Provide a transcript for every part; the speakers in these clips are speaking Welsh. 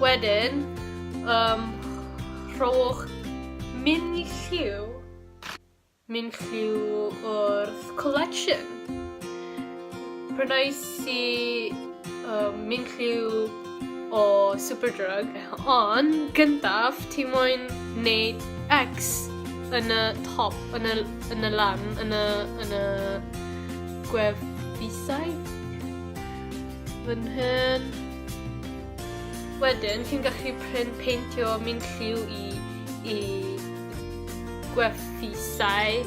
Wedyn, um, rhowch min lliw, min lliw o'r collection. Prynais i um, min lliw o Superdrug, ond gyntaf ti moyn wneud X yn y top, yn y, yn y lan, yn y, yn y gwefusau. Fy nhyn. Wedyn, ti'n gallu prin peintio mynd lliw i, i gwerthisau.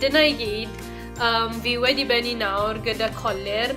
Dyna i gyd. Um, fi wedi benni nawr gyda colir.